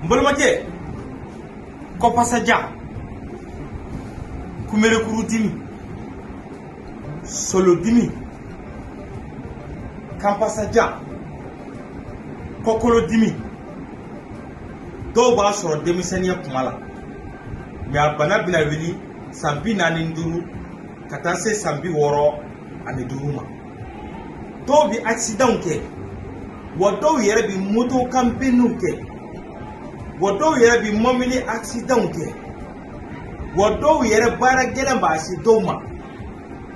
n balimakɛ kɔpasaja kunberekuru dimi solodimi kanpasaja kɔkolodimi dɔw b'a sɔrɔ denmisɛnninya kuma la mais a bana bɛna wuli san bi naani ni duuru ka taa se san bi wɔɔrɔ ani duuru ma dɔw bɛ akisidanw kɛ wa dɔw yɛrɛ bɛ moto kan binniw kɛ wa dɔw yɛrɛ bɛ mɔbili akisidanw kɛ wa dɔw yɛrɛ baara gɛlɛn b'a se dɔw ma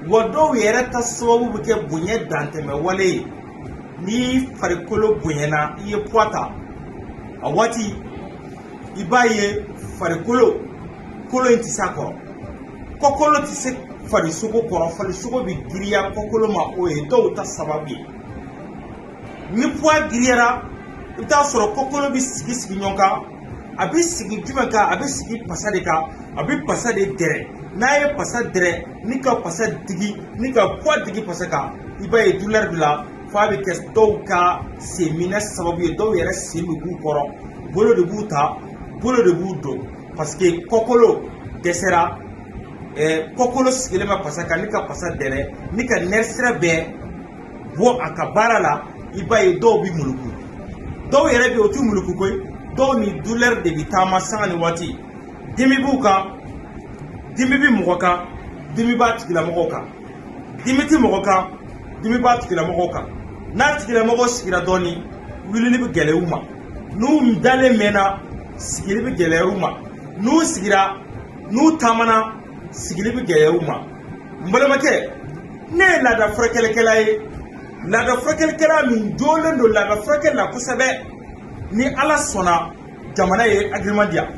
wa dɔw yɛrɛ ta sababu bɛ kɛ bonya dantɛmɛwale ye ni farikolo bonyana i ye poids ta a waati i b'a ye farikolo kolo in tɛ s'a kɔrɔ kɔkolo tɛ se farisogo kɔrɔ farisogo bɛ giriya kɔkolo ma o ye dɔw ta sababu ye ni poids giriyara i bɛ t'a sɔrɔ kɔkolo bɛ sigi sigi ɲɔgɔn kan a bɛ sigi jumɛn kan a bɛ sigi pasa de kan a bɛ pasa de dɛrɛ n'a ye pasa dɛrɛ ni ka pasa digi ni ka poids digi pasa kan i b'a ye douleur b'i la f'a bɛ kɛ dɔw ka senminɛ sababu ye dɔw yɛrɛ sen bɛ bɔ u kɔrɔ bolo de b'u ta bolo de b'u don parce que kɔkolo dɛsɛra ɛɛ kɔkolo sigilen bɛ pasa kan ni ka pasa dɛrɛ ni ka nerf sira bɛɛ bɔ a ka baara la i b'a ye dɔw bɛ muluku dɔw yɛrɛ bɛ yen o t'u muluku koyi dɔw ni douleur de bɛ taama sanga ni waati dimi b'u kan dimi bɛ mɔgɔ kan dimi b'a tigilamɔgɔw kan dimi bɛ mɔgɔ kan dimi b'a tigilamɔgɔw kan n'a tigilamɔgɔw sigira dɔɔnin wulili bɛ gɛlɛya u ma n'u dalen mɛnna sigili bɛ gɛlɛya u ma n'u sigira n'u taamana sigili bɛ gɛlɛya u ma n balimakɛ ne ye laada furakɛlikɛla ye laada furakɛlikɛla min jɔlen don laada furakɛli la kosɛbɛ ni ala sɔnna jamana ye agrément di yan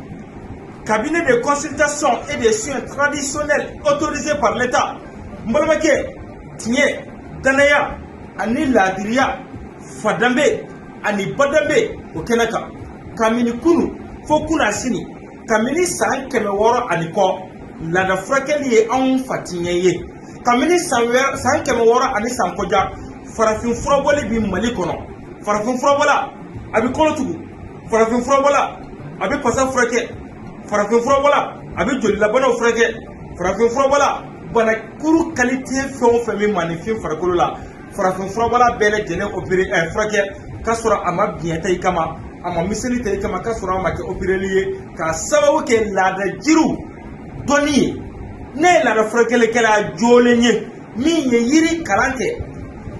cabinet de consultation et de soins traditionnels autorisé par l'État n balimakɛ tiɲɛ danaya ani laadiriya fa danbe ani ba danbe o kɛnɛ kan kabini kunu fo kunasini kabini san kɛmɛ wɔɔrɔ ani kɔ laada furakɛli ye anw fatiɲɛ ye kabini san kɛmɛ wɔɔrɔ ani san kɔja farafin furabɔli bi mali kɔnɔ farafin furabɔla a bi kolo tugu farafin furabɔla a bi pasa furakɛ farafin furabɔla a bi jolilabanaw furakɛ farafin furabɔla bana kuru kalite fɛn o fɛn bɛ maaninfin farikolo la farafin furabɔla bɛɛ lajɛlen opere ɛ eh, furakɛ k'a sɔrɔ a ma biɲɛ ta i kama a ma miseli ta i kama k'a sɔrɔ a ma kɛ opereli ye k'a sababu kɛ laada jiriw dɔnni ye ne ye laada furakɛlikɛla joolen ye min ye yiri kalan kɛ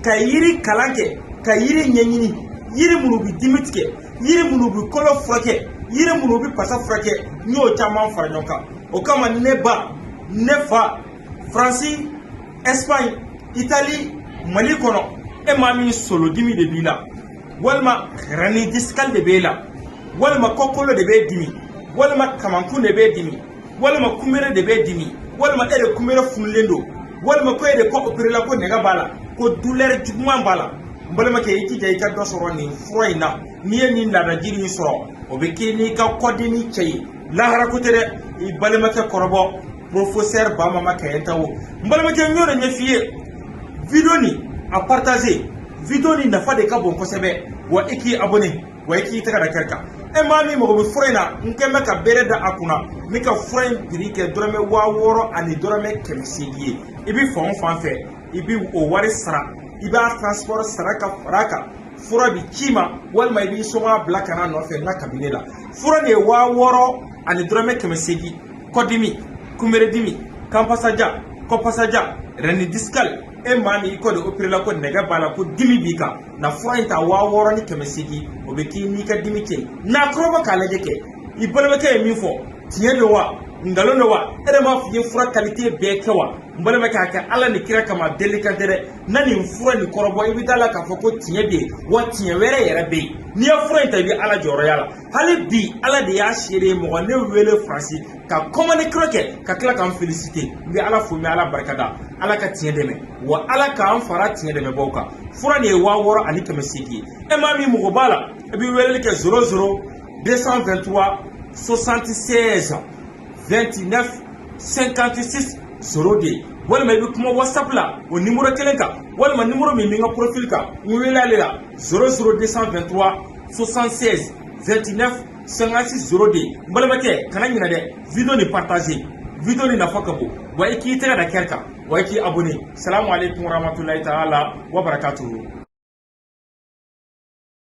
ka yiri kalan kɛ ka yiri ɲɛɲini yiri minnu bɛ dimi tigɛ yiri minnu bɛ kolo furakɛ yiri minnu bɛ pasa furakɛ n y'o caman fara ɲɔgɔn kan o kama ne ba ne fa faransi espagne itali mali kɔnɔ e maa min solodimi de b'i la walima hernie discale de b'e la walima kɔkolo de b'e dimi walima kamankun de b'e dimi walima kunbere de b'e dimi walima e de kunbere funulen don walima ko e de kɔ operela ko nɛgɛ b'a la ko douleur juguman b'a la n balimakɛ i jija i ka dɔ sɔrɔ nin fura in na n'i ye nin laadajiri in sɔrɔ o bɛ k'i n'i ka kɔdimi cɛ ye lahara ko tɛ dɛ i balimakɛ kɔrɔbɔ professeur bamama kayentao n balimakɛ n y'o de ɲɛf'i ye video nin a partager video nin nafa de ka bon kosɛbɛ wa i k'i abonné wa i k'i tɛgɛ da cœur kan e maa min mago bɛ fura in na n kɔni bɛ ka bere da a kunna n bɛ ka fura in prix kɛ dɔrɔmɛ waa wɔɔrɔ ani dɔrɔmɛ kɛmɛ seegin ye i bɛ fan o fan fɛ i bɛ o wari sara i b'a transport sara ka fara a kan fura bɛ c'i ma walima i b'i somɔgɔ bila ka n'a nɔfɛ n ka cabinet la fura nin ye waa wɔɔrɔ ani dɔrɔmɛ kɛmɛ seegin kɔdimi kunberedimi kanpasaja kɔpasaja hernie discale e maa min i kɔ de operela ko nɛgɛ b'a la ko dimi b'i kan na fura in ta waa wɔɔrɔ ni kɛmɛ seegin o bɛ k'i n'i ka dimi cɛ n'a kɔrɔbɔ k'a lajɛ kɛ i balimakɛ ye min fɔ tiɲɛ don wa nkalon don wa e de m'a fɔ i ye fura qualité bɛɛ kɛ wa n balimakɛ a kɛ ala ni kira kama delikan tɛ dɛ na nin fura nin kɔrɔbɔ i bɛ d'a la k'a fɔ ko tiɲɛ bɛ yen wa tiɲɛ wɛrɛ yɛrɛ bɛ yen n'i ye fura in ta i bɛ ala jɔyɔrɔ y'a la hali bi ala de y'a seere ye mɔgɔ ne wele faransi ka commande kura kɛ ka tila ka n felisite n bɛ ala fo n bɛ ala barika da ala ka tiɲɛ dɛmɛ wa ala k'an fara tiɲɛ dɛmɛbaw kan fura nin ye waa wɔɔrɔ ani kɛmɛ seegin ye e maa min mago b'a la i bɛ weleli kɛ 00 223 76 29 56 02 walima i bɛ kuma whatsapp la o nimoro kelen kan walima nimoro min bɛ n ka profil kan n wele ale la 00 223 76 29 56 02 n balimakɛ kana ɲinɛ dɛ video ni partager video ni nafa ka bon wa i k'i tɛgɛ da cœur kan wa i k'i abonné salamu aleykum warahmatulahi taala wa barakatuhu